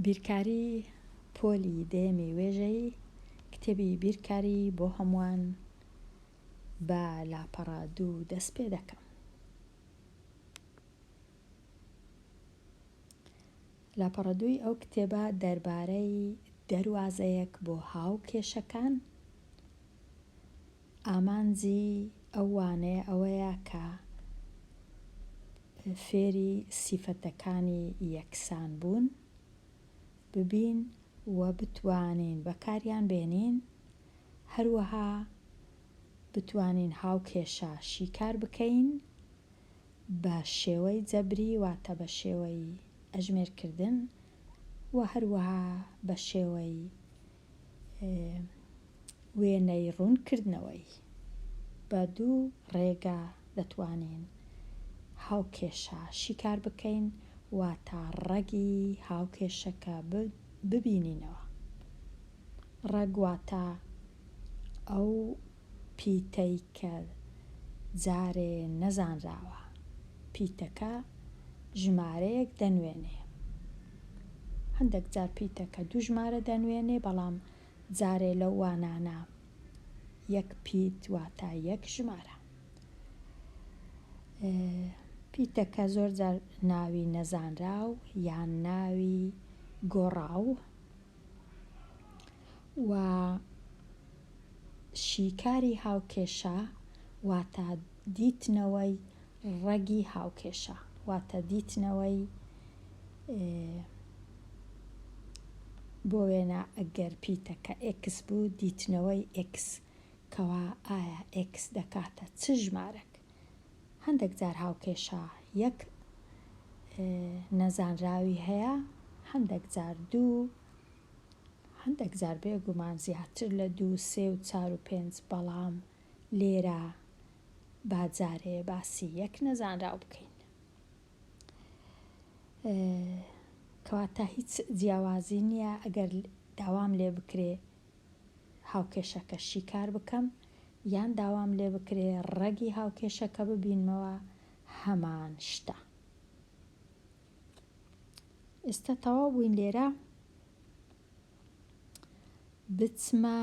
بیرکاری پۆلی دەیەمی وێژەیی کتێبی بیرکاری بۆ هەمووان بە لاپەڕە دوو دەست پێ دەکەم لاپەڕە دووی ئەو کتێبە دەربارەی دەروازەیەک بۆ هاو کێشەکان ئامانجی ئەو وانەیە ئەوەیە کە فێری سیفەتەکانی یەکسان بوون ببین و بتوانین بەکاریان بێنین، هەروەها بتوانین هاوکێشە شیکار بکەین بە شێوەی جەبری واتە بە شێوەی ئەژمێرکردن و هەروەها بە شێوەی وێنەی ڕوونکردنەوەی، بە دوو ڕێگا دەتوانین هاوکێشە شیکار بکەین، واتە ڕەگی هاوکێشەکە ببینینەوە. ڕەگ واتە ئەو. پیتەی کە جارێ نەزانراوە، پیتەکە ژمارەیەک دەنوێنێ. هەندەک جار پیتەکە دوو ژمارە دەنوێنێ، بەڵام جارێ لەو وانانە یەک پیت واتە یەک ژمارە. پیتەکە زۆر جار ناوی نەزانراو یان ناوی گۆڕاو و شیکاری هاوکێشە واتە دیتنەوەی ڕەگی هاوکێشە واتە دیتنەوەی بۆ وێنە ئەگەر پیتەکە ئێکس بوو دیتنەوەی ئێکس کەوا ئایا ئێکس دەکاتە چ ژمارەک هەندەک جار هاوکێشە یەک نەزانراوی هەیە، هەندەک جار دوو، هەندەک جار بێگومان زیاتر لە دوو، سێ و چار و پێنج، بەڵام لێرە با جارێ باسی یەک نەزانراو بکەین. کەواتە هیچ جیاوازی نییە ئەگەر داوام لێ بکرێ هاوکێشەکە شیکار بکەم یان داوام لێ بکرێ ڕەگی هاوکێشەکە ببینمەوە هەمان شتە. ئێستا تەواو بووین لێرە بچمە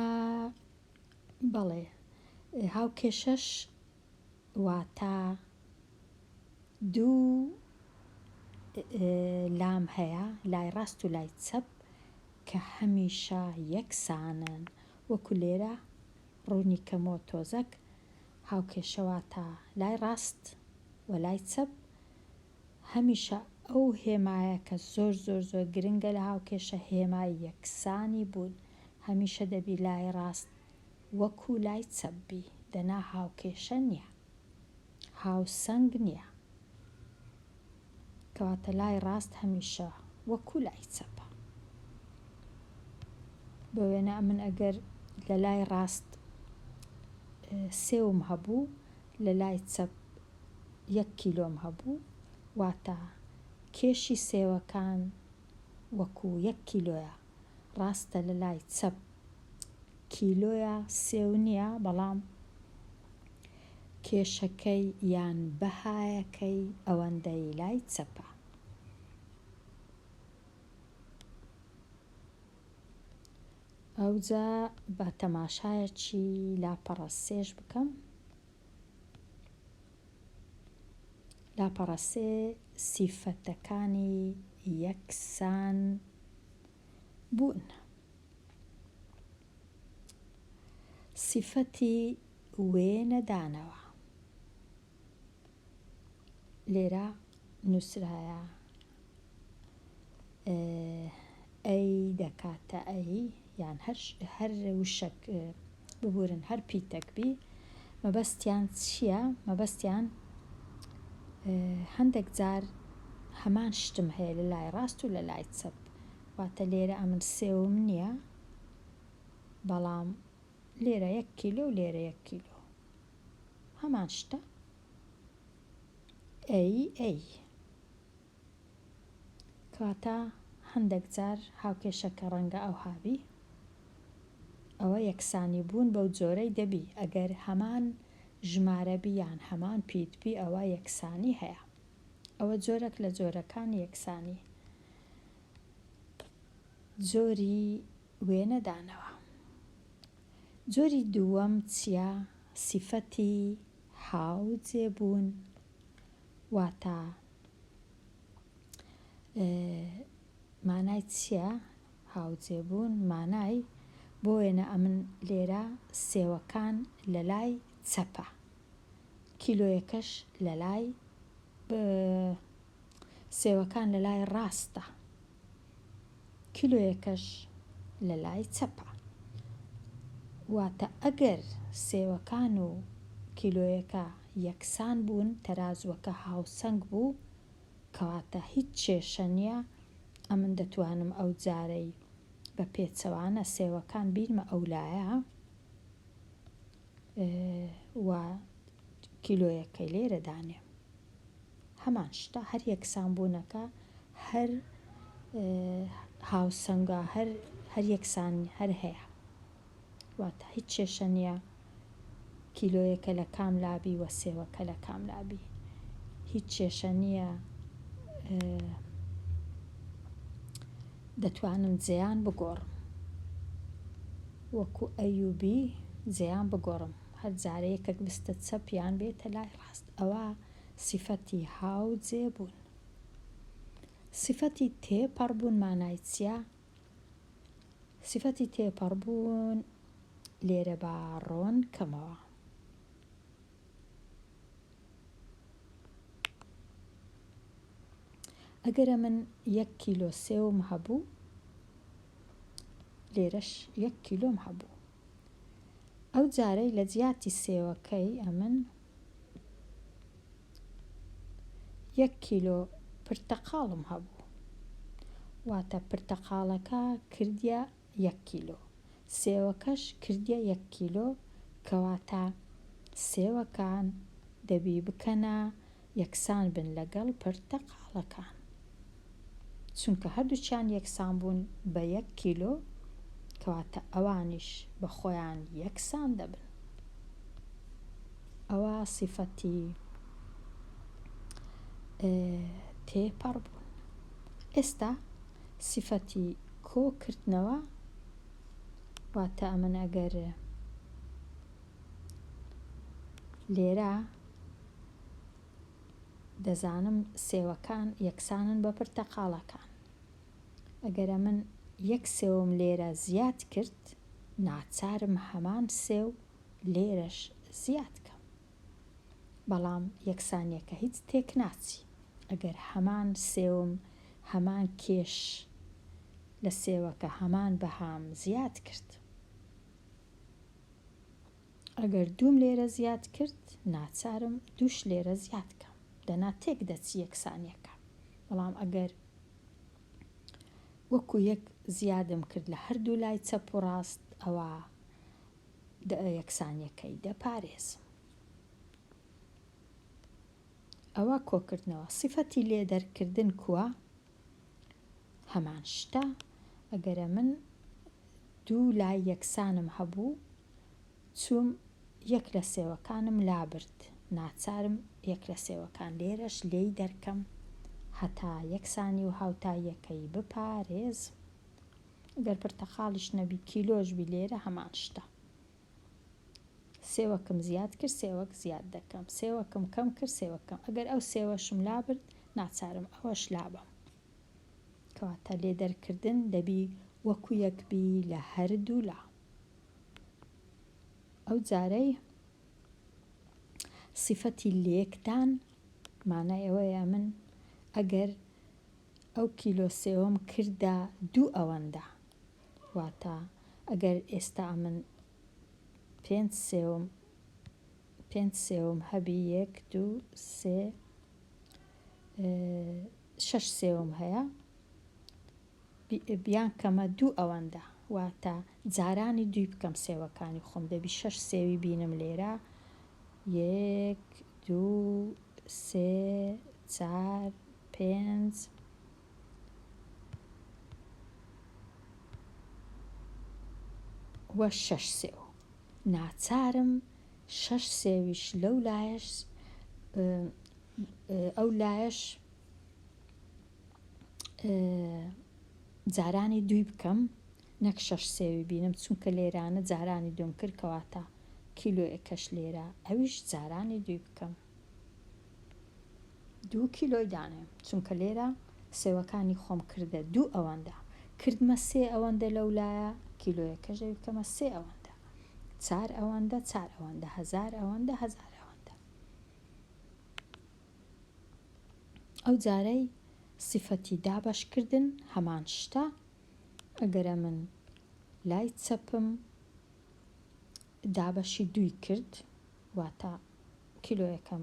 بەڵێ هاوکێشەش واتا دوو لام هەیە لای ڕاست و لای چەپ کە هەمیشە یەکسانن وەکو لێرە ڕوونی کەمەوە تۆزەک هاوکێشە واتا لای ڕاست و لای چەپ هەمیشە ئەو هێمایە کە زۆر زۆر زۆر گرنگە لە هاوکێشە هێمای یەکسانی بوون هەمیشە دەبی لای ڕاست وەکو لای چەپ بی دەنا هاوکێشە نیە هاوسەنگ نیە کەواتە لای ڕاست هەمیشە وەکو لای چەپە بۆ وێنە ئەمن ئەگەر لە لای ڕاست سێوم هەبوو لە لای چەپ یەک کیلۆم هەبوو واتە کێشی سێوەکان وەکو یەک کیلۆیە ڕاستە لە لای چەپ کیلۆیە سێو نیە بەڵام کێشەکەی یان بەهایەکەی ئەوەندەی لای چەپە. ئەوجا با تەماشایەکی لاپەڕە سێش بکەم لاپەڕە سێ سیفەتەکانی یەکسان بوون. سیفەتی وێنە دانەوە لێرە نووسرایە ئەی دەکاتە ئەی یان هەر وشەک ببورن هەر پیتەک بی مەبەستیان چیە مەبەستیان هەندەک جار هەمان شتم هەیە لە لای ڕاست و لە لای چەپ واتە لێرە ئەمن سێوم نییە بەڵام لێرە یەک کیلۆ و لێرە یەک کیلۆ هەمان شتە ئەی ئەی کەواتە هەندەک جار هاوکێشە کە ڕەنگە ئەوها بی ئەوە یەکسانی بوون بەو جۆرەی دەبی ئەگەر هەمان ژمارە بی یان هەمان پیت بی ئەوە یەکسانی هەیە ئەوە جۆرەک لە جۆرەکانی یەکسانی جۆری وێنەدانەوە جۆری دووەم چیە سیفەتی هاوجێ بوون واتە مانای چیە هاوجێ بوون مانای بۆ وێنە ئەمن لێرە سێوەکان لە لای چەپە کیلۆیەکەش لە لای سێوەکان لە لای ڕاستە کیلۆیەکەش لە لای چەپە. واتە ئەگەر سێوەکان و کیلۆیەکە یەکسان بوون، تەرازووەکە هاوسەنگ بوو، کەواتە هیچ کێشە نییە، ئەمن دەتوانم ئەو جارەی بە پێچەوانە سێوەکان بینمە ئەو لایە و کیلۆیەکەی لێرە دانێم. هەمان شتە هەر یەکسان بوونەکە هەر هاوسەنگە هەر هەر یەکسان هەر هەیە واتە هیچ کێشە نییە کیلۆیەکە لە کام لابی وە سێوەکە لە کام لابی هیچ کێشە نییە دەتوانم زیان بگۆڕم وەکو ئەیوبی زیان بگۆڕم هەر جارەیەکەک بستە چەپیان بێتە لای هەست ئەوا سیفەتی هاوجێ بوون. سیفەتی تێپەڕ بوون مانای چییە؟ سیفەتی تێپەڕ بوون لێرە با ڕۆن کەمەوە. ئەگەرە من یەک کیلۆ سێوم هەبوو لێرەش یەک کیلۆم هەبوو ئەو جارەی لە جیاتی سێوەکەی ئەمن یەک کیلۆ پرتەقاڵم هەبوو واتە پرتەقاڵەکە کردیە یەک کیلۆ سێوەکەش کردیە یەک کیلۆ کەواتە سێوەکان دەبی بکەنە یەکسان بن لەگەڵ پرتەقاڵەکان چونکە هەردووکیان یەکسان بوون بە یەک کیلۆ کەواتە ئەوانیش بە خۆیان یەکسان دەبن ئەوە سیفەتی تێپەڕ بوون ئێستا سیفەتی کۆکردنەوە واتە ئەمن ئەگەر لێرە دەزانم سێوەکان یەکسانن بە پرتەقاڵەکان. ئەگەر ئەمن یەک سێوم لێرە زیاد کرد، ناچارم هەمان سێو لێرەش زیاد کەم. بەڵام یەکسانییەکە هیچ تێک ناچی. ئەگەر هەمان سێوم هەمان کێش لە سێوەکە هەمان بەهام زیاد کرد. ئەگەر دووم لێرە زیاد کرد ناچارم دووش لێرە زیاد کەم دەنا تێک دەچی یەکسانیەکە بەڵام ئەگەر وەکو یەک زیادم کرد لە هەردوو لای چەپ و ڕاست ئەوە یەکسانیەکەی دەپارێزم ئەوە کۆکردنەوە سیفەتی لێ دەرکردن کووە هەمان شتە ئەگەرە من دوو لای یەکسانم هەبوو چووم یەک لە سێوەکانم لابرد ناچارم یەک لە سێوەکان لێرەش لێی دەرکەم هەتا یەکسانی و هاوتاییەکەی بپارێزم گەر پرتەقاڵیش نەبی کیلۆش بی لێرە هەمان شتە سێوەکم زیاد کرد سێوەک زیاد دەکەم سێوەکم کەم کرد سێوەک کەم ئەگەر ئەو سێوەشم لابرد ناچارم ئەوەش لابەم کەواتە لێ دەرکردن دەبی وەکو یەک بی لە هەردوولا ئەو جارەی صفەتی لێکدان مانای ئەوەیە ئەمن ئەگەر ئەو کیلۆ سێوەم کردە دوو ئەوەندە واتە ئەگەر ئێستا ئەمن پێنج سێوم پێنج سێوم هەبی یەک دوو سێ شەش سێوم هەیە بیان کەمە دوو ئەوەندە واتە جارانی دووی بکەم سێوەکانی خۆم دەبی شەش سێوی بینم لێرە یەک دوو سێ چار پێنج وە شەش سێو ناچارم شەش سێویش لەو لایەش ئەو لایەش جارانی دوی بکەم نەک شەش سێوی بینم چونکە لێرانە جارانی دوم کرد کەواتە کیلۆ ئەکەش لێرە ئەویش جارانی دوی بکەم دوو کیلۆی دانێ چونکە لێرە سێوەکانی خۆم کردە دوو ئەوەندە کردمە سێ ئەوەندە لەو لایە کیلۆیەکەش دەوی بکەمە سێ ئەوەندە چار ئەوەندە چار ئەوەندە هزار ئەوەندە هزار ئەوەندە ئەو جارەی سفەتی دابەش کردن هەمان شتە ئەگەرە من لای چەپم دابەشی دووی کرد واتە کیلۆیەکەم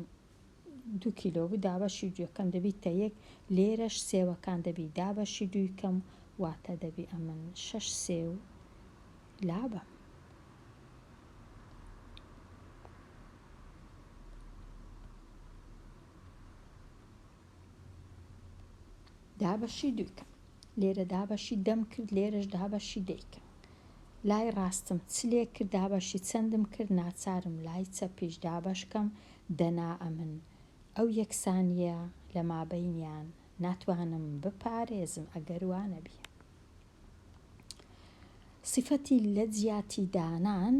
دو کیلۆ بوو دابەشی دوەکەم دەبیت تە یەک لێرەش سێوەکان دەبی دابەشی دوویکەم واتە دەبی ئەمن شش سێو لابەم. دابەشی دووکەم لێرە دابەشی دەم کرد لێرەش دابەشی دەیکەم لای ڕاستم چ لێ کرد دابەشی چەندم کرد ناچارم لای چەپیش دابەشکەم دەنا ئەمن ئەو یەکسانیە لە مابەینیان ناتوانم بپارێزم ئەگەر وانەبیە سیفەتی لە جیاتی دانان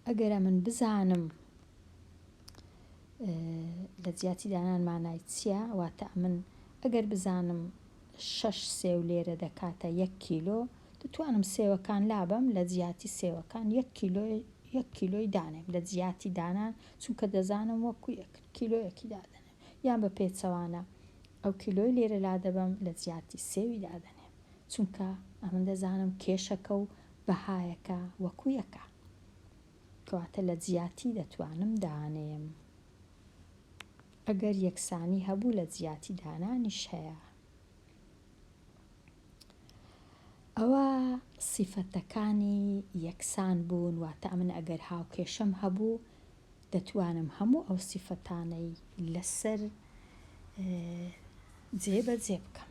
ئەگەر من بزانم لە جیاتی دانان مانای چییە واتە من ئەگەر بزانم شەش سێو لێرە دەکاتە یەک کیلۆ دەتوانم سێوەکان لابەم لە جیاتی سێوەکان یەک کیلۆ یەک کیلۆی دانێم لە جیاتی دانان چونکە دەزانم وەکو یەک کیلۆیەکی دادەنێم یان بە پێچەوانە ئەو کیلۆی لێرە لادەبەم لە جیاتی سێوی دادەنێم چونکە ئەمن دەزانم کێشەکە و بەهایەکە وەکو یەکە کەواتە لە جیاتی دەتوانم دانێم ئەگەر یەکسانی هەبوو لە جیاتی دانانیش هەیە ئەوە سیفەتەکانی یەکسان بوون واتە ئەمن ئەگەر هاوکێشەم هەبوو دەتوانم هەموو ئەو سیفەتانەی لەسەر جێ بە جێ بکەم.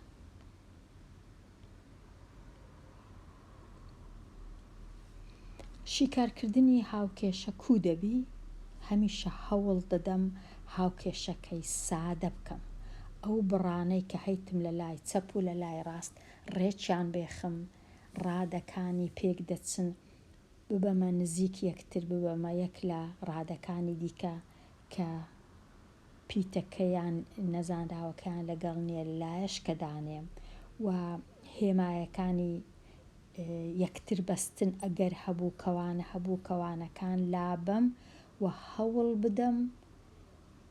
شیکارکردنی هاوکێشە کوو دەبی؟ هەمیشە هەوڵ دەدەم هاوکێشەکەی سادە بکەم. ئەو بڕانەی کە هەیتم لە لای چەپ و لە لای ڕاست ڕێکیان بێخم، ڕادەکانی پێک دەچن ببەمە نزیک یەکتر ببەمە یەک لە ڕادەکانی دیکە کە پیتەکەیان نەزانراوەکەیان لەگەڵ نیە لایەش کە دانێم و هێمایەکانی یەکتر بەستن ئەگەر هەبوو کەوانە هەبوو کەوانەکان لابەم و هەوڵ بدەم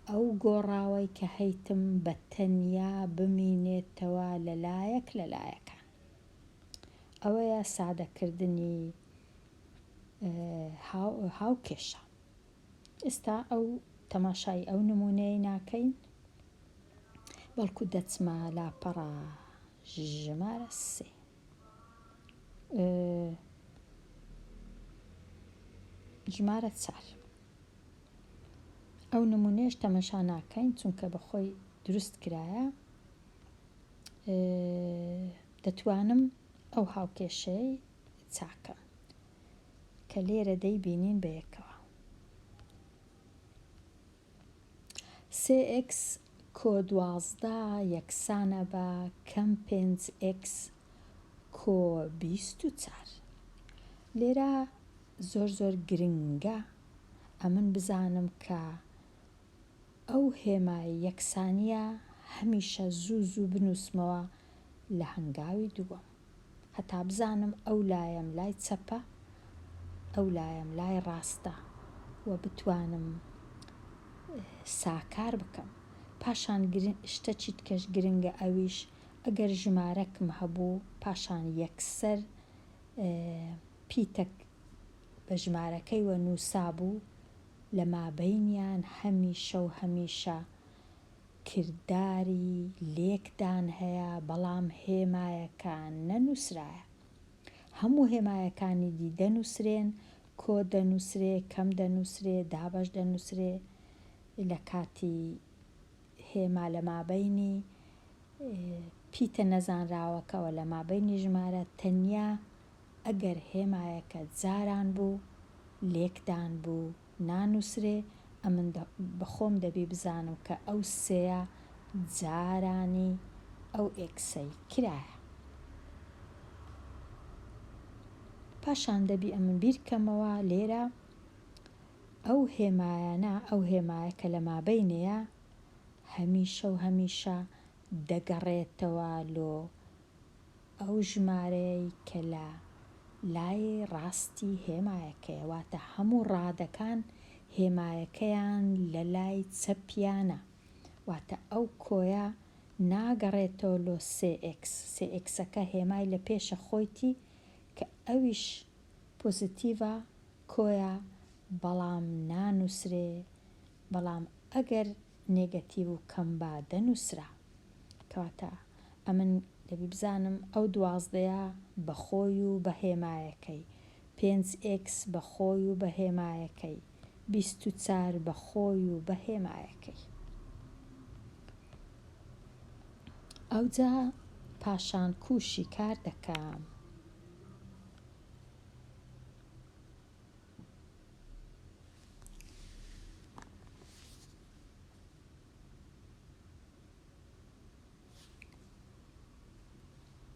ئەو گۆڕاوەی کە هەیتم بە تەنیا بمینێتەوە لە لایەک لە لایەکان. ئەوەیە سادەکردنی هاوکێشە ئێستا ئەو تەماشای ئەو نمونەی ناکەین بەڵکو دەچمە لاپەڕە ژمارە سێ ژمارە چار ئەو نمونێش تەمەشا ناکەین چونکە بەخۆی دروست کرایە دەتوانم ئەو هاوکێشەی چاکەم کە لێرە دەیبینین بە یەکەوە سێ ئێکس کۆ دوازدە یەکسانە بە کەم پێنج ئێکس کۆ بیست و چار لێرە زۆر زۆر گرنگە ئەمن بزانم کە ئەو هێما یەکسانییە هەمیشە زوو زوو بنووسمەوە لە هەنگاوی دووەم هەتا بزانم ئەو لایەم لای چەپە ئەو لایەم لای ڕاستە و بتوانم ساکار بکەم پاشان شتە چیتکەش گرنگە ئەویش ئەگەر ژمارەکم هەبوو پاشان یەکسەر پیتەک بە ژمارەکەیوە نووسابوو لە مابەینیان هەمیشە و هەمیشە کرداری لێکدان هەیە، بەڵام هێمایەکە نەنووسرایە. هەموو هێمایەکانی دی دەنووسرێن، کۆ دەنووسرێ، کەم دەنووسرێ، دابەش دەنووسرێ، لە کاتی هێما لە مابەینی پیتە نەزانراوەکەوە، لە مابەینی ژمارە تەنیا ئەگەر هێمایەکە جاران بوو، لێکدان بوو، نانووسرێ، ئەمن بە خۆم دەبی بزانم کە ئەو سێیە جارانی ئەو ئێکسەی کرایە. پاشان دەبی ئەمن بیر کەمەوە لێرە ئەو هێمایانە، ئەو هێمایە کە لە مابەینێیە، هەمیشە و هەمیشە دەگەڕێتەوە لۆ. ئەو ژمارەیەی کە لە لای ڕاستی هێمایەکەیە، واتە هەموو ڕادەکان هێمایەکەیان لە لای چەپیانە، واتە ئەو کۆیە ناگەڕێتەوە لۆ سێ ئێکس، سێ ئێکسەکە هێمای لە پێشە خۆیتی کە ئەویش پۆزیتیڤە، کۆیە، بەڵام نانووسرێ بەڵام ئەگەر نێگەتیڤ و کەم با دەنووسرا. کەواتە ئەمن دەبی بزانم ئەو دوازدەیە بە خۆی و بە هێمایەکەی، پێنج ئێکس بە خۆی و بە هێمایەکەی، بیست و چار بە خۆی و بە هێمایەکەی. ئەوجا پاشان کوو شیکار دەکەم.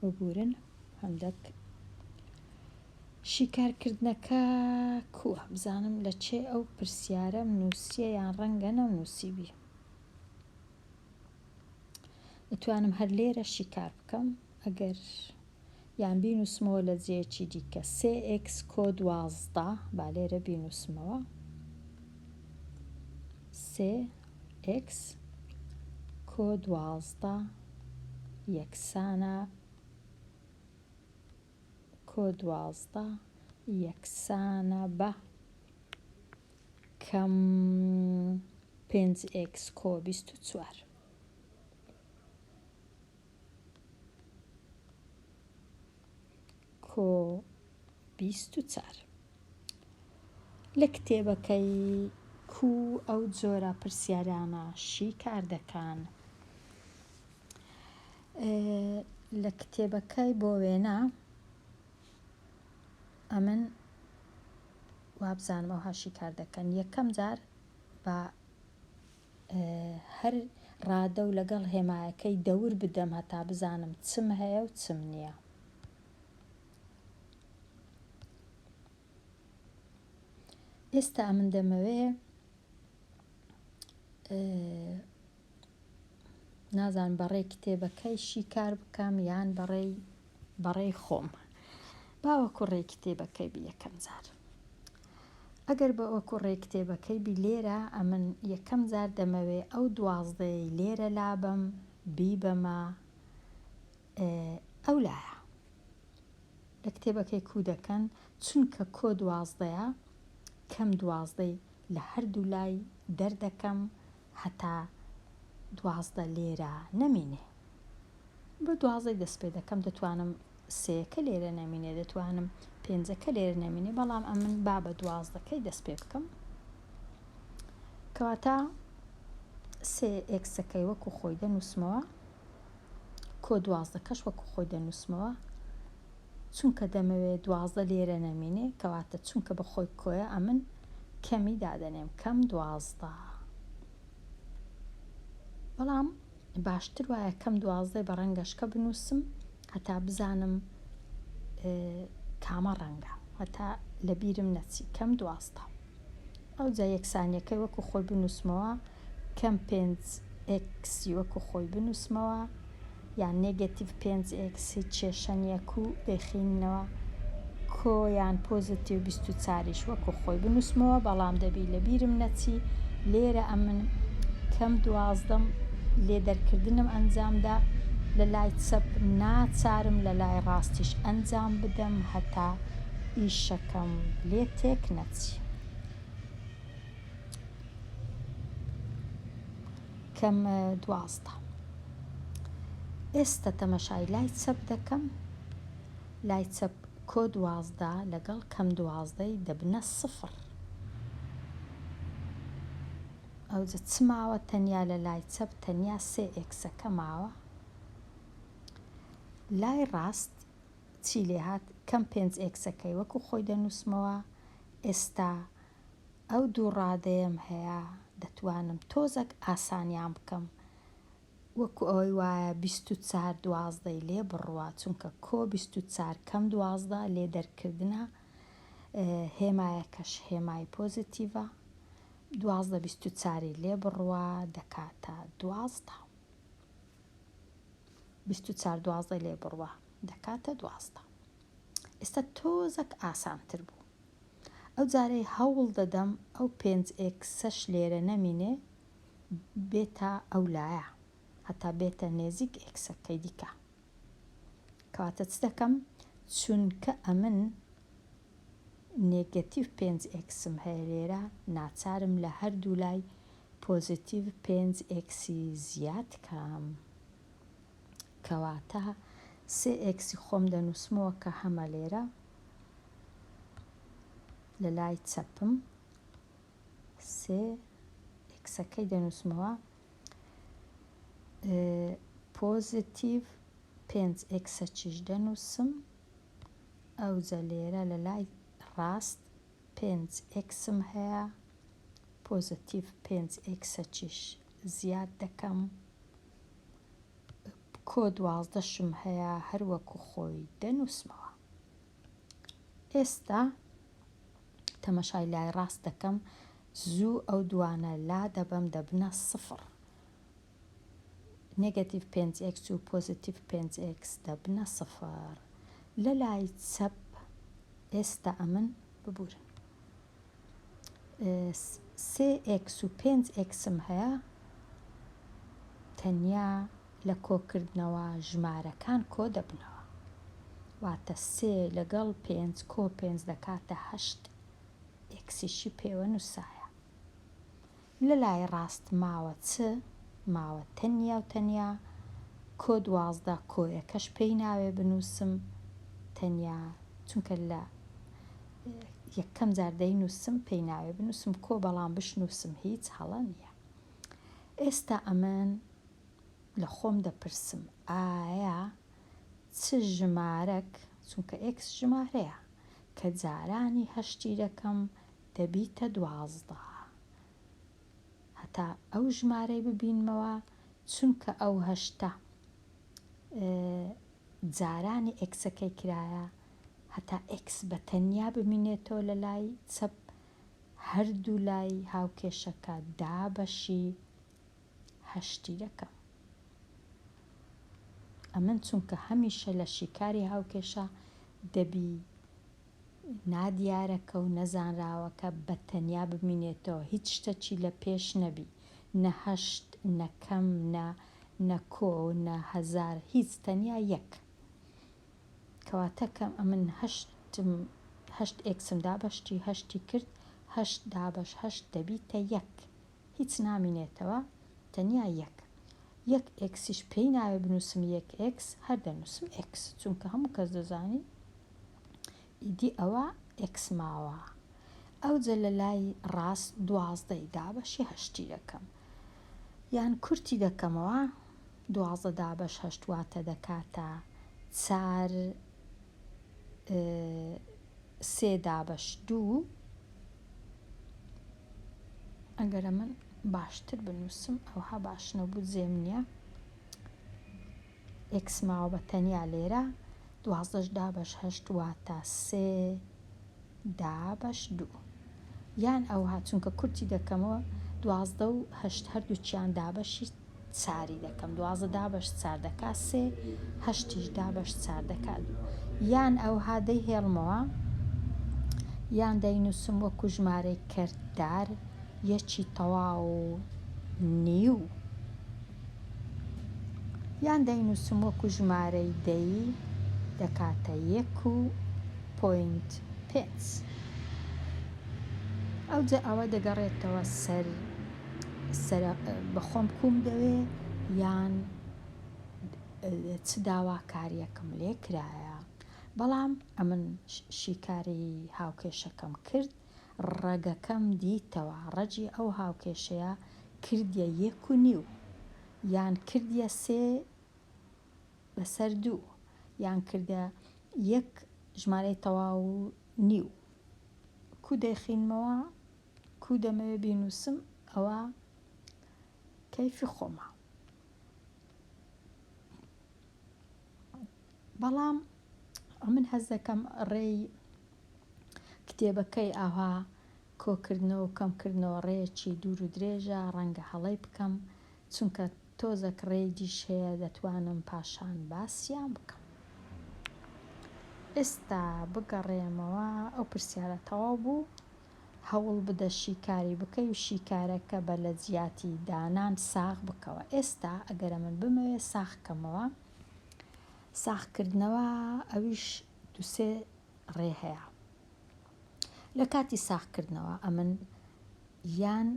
ببورن هەندەک شیکارکردنەکە کووە بزانم لە چێ ئەو پرسیارەم نووسە یان ڕەنگە نەم نووسیبی ئەتوانم هەر لێرە شیکار بکەم ئەگەر یان بینووسمەوە لە جێیەکی دیکە سێ ئێکس کۆ دوازدە با لێرە بینووسمەوە سێ ئێکس کۆ دوازدە یەکسانە کۆ دوازدە یەکسانە بە کەم پێنج ئێکس کۆ بیست و چوار کۆ بیست و چار. لە کتێبەکەی کوو ئەو جۆرە پرسیارانە شیکار دەکان؟ لە کتێبەکەی بۆ وێنە ئەمن وابزانم ئەوها شیکار دەکەن یەکەم جار بە هەر ڕادە و لەگەڵ هێمایەکەی دەور بدەم هەتا بزانم چم هەیە و چم نییە. ئێستا من دەمەوێ نازان بەڕێ کتێبەکەی شیکار بکەم یان بەڕێی بەڕای خۆم باوەکوڕێی کتێبەکەی بی یەکەم جار ئەگەر باوەکوڕێی کتێبەکەی بی لێرە ئەمن یەکەم جار دەمەوێ ئەو دوازدەیەی لێرە لابەم بیبەمە ئەو لایە لە کتێبەکەی کو دەکەن چونکە کۆ دوازدەیە کەم دوازدەی لە هەردوو لای دەردەکەم هەتا دوازدە لێرە نەمینێ. بە دوازدەی دەست پێ دەکەم دەتوانم سێەکە لێرە نەمینێ دەتوانم پێنجەکە لێرە نەمینێ بەڵام ئەمن با بە دوازدەکەی دەست پێ بکەم کەواتە سێ ئێکسەکەی وەکو خۆی دەنووسمەوە کۆ دوازدە کەش وەکو خۆی دەنووسمەوە چونکە دەمەوێت دوازدە لێرە نەمینێ کەواتە چونکە بە خۆی کۆیە ئەمن کەمی دادەنێم کەم دوازدە بەڵام باشتر وایە کەم دوازدەی بە ڕەنگەشکە بنووسم هەتا بزانم کامە ڕەنگە. هەتا لە بیرم نەچی کەم دوازدە. ئەوجا یەکسانیەکەی وەکو خۆی بنوسمەوە کەم پێنج ئێکسی وەکو خۆی بنوسمەوە یان نێگەتیڤ پێنج ئێکس هیچ کێشە نیە کوو دەیخیننەوە کۆ یان پۆزەتیو بیست و چار یش وەکو خۆی بنوسمەوە بەڵام دەبی لەبیرم نەچی لێرە ئەمن کەم دوازدەم لێ دەرکردنم ئەنجام دا لەلای چەپ ناچارم لەلای ڕاستیش ئەنجام بدەم هەتا ئیشەکەم لێ تێک نەچی کەم دوازدە ئێستە تەمەشای لای چەپ دەکەم. لای چەپ کۆ دوازدە لەگەڵ کەم دوازدەی دەبنە سفر. ئەوجە چ ماوە تەنیا لە لای چەپ تەنیا سێ ئێکسەکە ماوە. لای ڕاست چی لێ هات کەم پێنج ئێکسەکەی وەکو خۆی دەنووسمەوە ئێستا ئەو دوو ڕادەیەم هەیە دەتوانم تۆزەک ئاسانیان بکەم وەکو ئەوەی وایە بیست و چار دوازدەی لێ بڕوا چونکە کۆ بیست و چار کەم دوازدە لێ دەرکردنە هێمایەکەش هێمای پۆزیتیڤە دوازدە بیست و چاری لێ بڕوا دەکاتە دوازدە بیست و چار دوازدە لێ بڕوا دەکاتە دوازدە ئێستا تۆزەک ئاسانتر بوو ئەو جارەی هەوڵ دەدەم ئەو پێنج ئێکسەش لێرە نەمینێ بێتە ئەو لایە هەتا بێتە نێزیک ئێکسەکەی دیکە کەواتە چ دەکەم چونکە ئەمن نێگەتیڤ پێنج ئێکسم هەیە لێرە ناچارم لە هەردوو لای پۆزیتیڤ پێنج ئێکسی زیاد کەم کەواتە سێ ئێکسی خۆم دەنووسمەوە کە هەمە لێرە لە لای چەپم سێ ئێکسەکەی دەنووسمەوە پۆزیتیڤ پێنج ئێکسەچیش دەنووسم ئەوجە لێرە لە لای ڕاست پێنج ئێکسم هەیە پۆزیتیڤ پێنج ئێکسەچیش زیاد دەکەم کۆ دوازدەشم هەیە هەروەکو خۆی دەنووسمەوە ئێستا تەمەشای لای ڕاست دەکەم زوو ئەو دوانە لا دەبەم دەبنە سفڕ نگەتیڤ 5 x و پۆزیتیڤ 5 x دەبنە سفڕ لە لای چەپ ئێستا ئەمن ببورن سێ ئێکس و پێنج ئێکسم هەیە تەنیا لە کۆکردنەوە ژمارەکان کۆ دەبنەوە واتە سێ لەگەڵ پێنج کۆ پێنج دەکاتە هەشت ئێکسیشی پێوە نووسایە لە لای ڕاست ماوە چ؟ ماوە تەنیا و تەنیا کۆ دوازدە کۆیەکەش پێی ناوێ بنووسم تەنیا چونکە لە یەکەم جار دەینووسم پێی ناوێ بنووسم کۆ بەڵام بشنووسم هیچ هەڵە نییە ئێستا ئەمن لە خۆم دەپرسم ئایا چ ژمارەک چونکە ئێکس ژمارەیە کە جارانی هەشتی دەکەم دەبیتە دوازدە هەتا ئەو ژمارەی ببینمەوە چونکە ئەو هەشتە جارانی ئێکسەکەی کرایە هەتا ئێکس بە تەنیا بمینێتەوە لە لای چەپ هەردوو لای هاوکێشەکە دابەشی هەشتی دەکەم ئەمن چونکە هەمیشە لە شیکاری هاوکێشە دەبی نادیارەکە و نەزانراوەکە بە تەنیا بمینێتەوە، هیچ شتەکی لە پێش نەبی، نە هەشت، نە کەم، نە، نە کۆ، نە هەزار، هیچ، تەنیا یەک. کەواتە کە ئەمن هەشتم، هەشت ئێکسم دا بە شتی هەشتی کرد، هەشت دابەش هەشت دەبیتە یەک، هیچ نامینێتەوە، تەنیا یەک. یەک ئێکسیش پێی ناوێ بنووسم یەک ئێکس، هەر دەنووسم ئێکس، چونکە هەموو کەس دەزانی، ئیدی ئەوە ئێکس ماوە ئەوجە لە لای ڕاست دوازدە ی دابەشی هەشتی دەکەم یان کورتی دەکەمەوە دوازدە دابەش هەشت واتە دەکاتە چار سێ دابەش دوو ئەگەرە من باشتر بنووسم ئەوها باش نەبوو جێم نییە ئێکس ماوە بە تەنیا لێرە. دوازدەش دابەش هەشت واتە سێ دابەش دوو. یان ئەوها چونکە کورتی دەکەمەوە دوازدە و هەشت هەردووکیان دابەشی چاری دەکەم دوازدە دابەش چار دەکا سێ هەشتیش دابەش چار دەکا دوو یان ئەوها دەی هێڵمەوە یان دەینووسم وەکو ژمارەی کەرتدار یەکی تەواو نیو یان دەینووسم وەکو ژمارەی دەی دەکاتە یەک و پۆینت پێنج. ئەوجا ئەوە دەگەڕێتەوە سەر بەخۆم کوم دەوێ یان چ داواکاریەکم لێ کرایە بەڵام ئەمن شیکاری هاوکێشەکەم کرد ڕەگەکەم دیتەوە ڕەگی ئەو هاوکێشەیە کردیە یەک و نیو یان کردیە سێ بەسەر دوو یان کردە یەک ژمارەی تەواو و نیو کو دەیخینمەوە کو دەمەوێ بینوسم ئەوە کەیفی خۆمە بەڵام ئەمن هەست دەکەم ڕێی کتێبەکەی ئاوها کۆکردنەوە و کەمکردنەوە ڕێیەکی دوور و درێژە، ڕەنگە هەڵەی بکەم، چونکە تۆزەک ڕێی دیش هەیە دەتوانم پاشان باسیان بکەم. ئێستا بگەڕێمەوە ئەو پرسیارە تەواو بوو، هەوڵ بدە شیکاری بکەی و شیکارەکە بە لە جیاتی دانان ساغ بکەوە. ئێستا ئەگەر ئەمن بمەوێ ساغ کەمەوە، ساغکردنەوە ئەویش دوو سێ ڕێ هەیە لە کاتی ساغکردنەوە ئەمن یان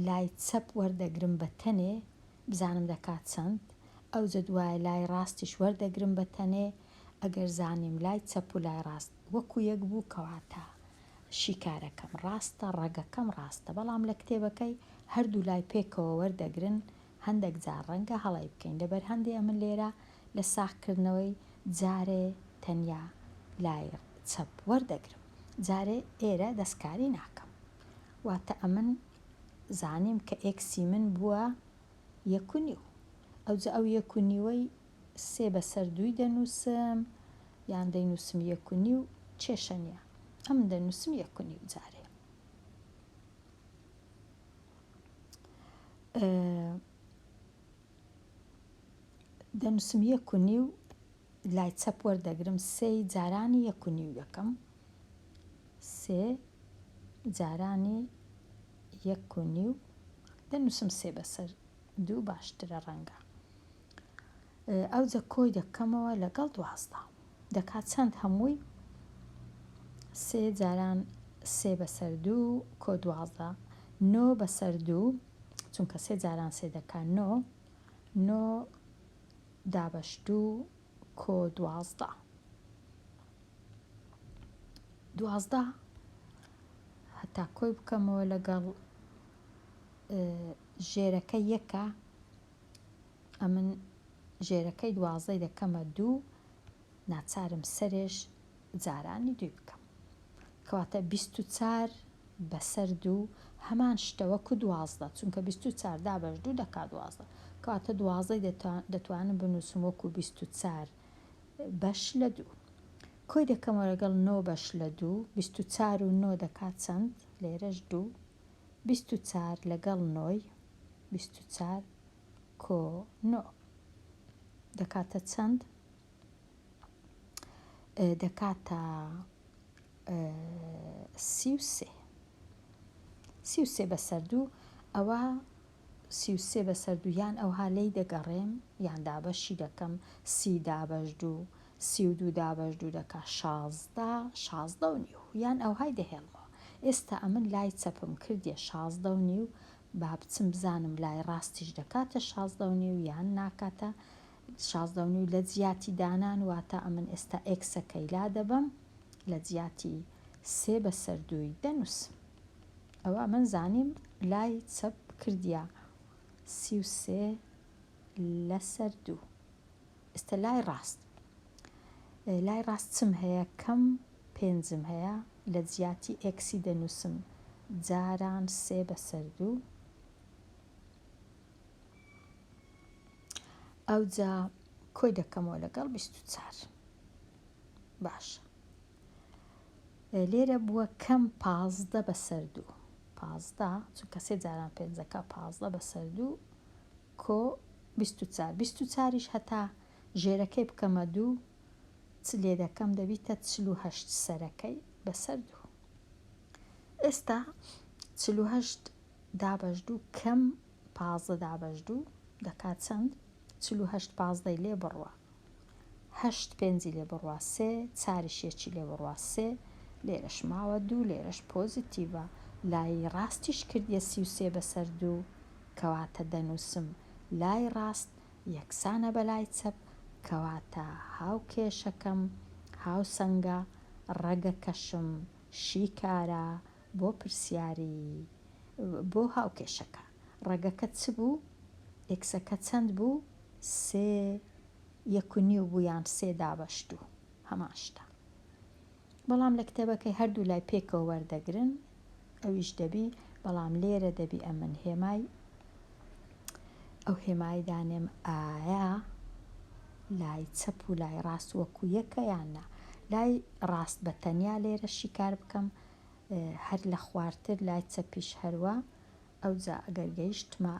لای چەپ وەردەگرم بە تەنێ بزانم دەکات چەند ئەوجە دوای لای ڕاستیش وەردەگرم بە تەنێ ئەگەر زانیم لای چەپ و لای ڕاست وەکو یەک بوو کەواتە شیکارەکەم ڕاستە ڕەگەکەم ڕاستە بەڵام لە کتێبەکەی هەردوو لای پێکەوە وەردەگرن هەندەک جار ڕەنگە هەڵەی بکەین لەبەر هەندێ ئەمن لێرە لە ساغ کردنەوەی جارێ تەنیا لای چەپ وەردەگرم جارێ ئێرە دەستکاری ناکەم واتە ئەمن زانیم کە ئێکسی من بووە یەک و نیو ئەوجە ئەو یەک و نیوەی سێ بەسەر دووی دەنووسم یان دەینووسم یەک و نیو کێشە نیە ئەمن دەنووسم یەک و نیو جارێ. دەنووسم یەک و نیو لای چەپ وەردەگرم سێی جارانی یەک و نیو دەکەم سێ جارانی یەک و نیو دەنووسم سێ بەسەر دوو باشترە ڕەنگە ئەوجە کۆی دەکەمەوە لەگەڵ دوازدە دەکات چەند هەمووی سێ جاران سێ بەسەر دوو کۆ دوازدە نۆ بەسەر دوو چونکە سێ جاران سێ دەکا نۆ نۆ دابەش دوو کۆ دوازدە دوازدە هەتا کۆی بکەمەوە لەگەڵ ژێرەکە یەکە ئەمن ژێرەکەی دوازدەی دەکەمە دوو ناچارم سەرێش جارانی دووی بکەم کەواتە بیست و چار بەسەر دوو هەمان شتە وەکو دوازدە چونکە بیست و چار دابەش دوو دەکا دوازدە کەواتە دوازدەی دەتوانم بنووسم وەکو بیست و چار بەش لە دوو کۆی دەکەمەوە لەگەڵ نۆ بەش لە دوو بیست و چار و نۆ دەکات چەند لێرەش دوو بیست و چار لەگەڵ نۆی بیست و چار کۆ نۆ دەکاتە چەند؟ دەکاتە سی و سێ سی و سێ بەسەر دوو ئەوە سی و سێ بەسەر دوویان ئەوها لی دەگەڕێم یان دابەشی دەکەم سی دابەش دوو سی و دوو دابەش دوو دەکا شازدە شازدە و نیو یان ئەوهای دەهێڵمەوە ئێستا ئەمن لای چەپم کردیە شازدە و نیو با بچم بزانم لای ڕاستیش دەکاتە شازدە و نیو یان ناکاتە شازدە و نیو لە جیاتی دانان واتە ئەمن ئێستا ئێکسەکەی لا دەبەم لە جیاتی سێ بەسەر دووی دەنووسم ئەوا من زانیم لای چەپ کردیە سی و سێ لەسەر دوو. ئێستا لای ڕاست لای ڕاست چم هەیە کەم پێنجم هەیە لە جیاتی ئێکسی دەنووسم جاران سێ بەسەر دوو ئەوجا کۆی دەکەمەوە لەگەڵ بیست و چار باشە لێرە بووە کەم پازدە بەسەر دوو پازدە چونکە سێ جاران پێنجەکە پازدە بەسەر دوو کۆ بیست و چار بیست و چاریش هەتا ژێرەکەی بکەمە دوو چ لێدەکەم دەبیتە چل و هەشت سەرەکەی بەسەر دوو ئێستا چل و هەشت دابەش دوو کەم پازدە دابەش دوو دەکات چەند چل و هەشت پازدەی لێ بڕە هەشت پێنجی لێ بڕوا سێ، چاریش یەکی لێ بڕوا سێ، لێرەش ماوە دوو، لێرەش پۆزیتیڤە، لای ڕاستیش کردیە سی و سێ بەسەر دوو، کەواتە دەنووسم لای ڕاست یەکسانە بە لای چەپ، کەواتە هاوکێشەکەم هاوسەنگە، ڕەگەکەشم شیکارە بۆ پرسیاری بۆ هاوکێشەکە. ڕەگەکەت چ بوو؟ ئێکسەکە چەند بوو؟ سێ یەک و نیو بوو یان سێ دابەش دوو؟ هەمان شتە. بەڵام لە کتێبەکەی هەردوو لای پێکەوە وەردەگرن، ئەویش دەبی، بەڵام لێرە دەبی ئەمن هێمای ئەو هێمای دانێم ئایا لای چەپ و لای ڕاست وەکو یەکە یان نا. لای ڕاست بە تەنیا لێرە شیکار بکەم، هەر لە خوارتر لای چەپیش هەروا. ئەوجا ئەگەر گەیشتمە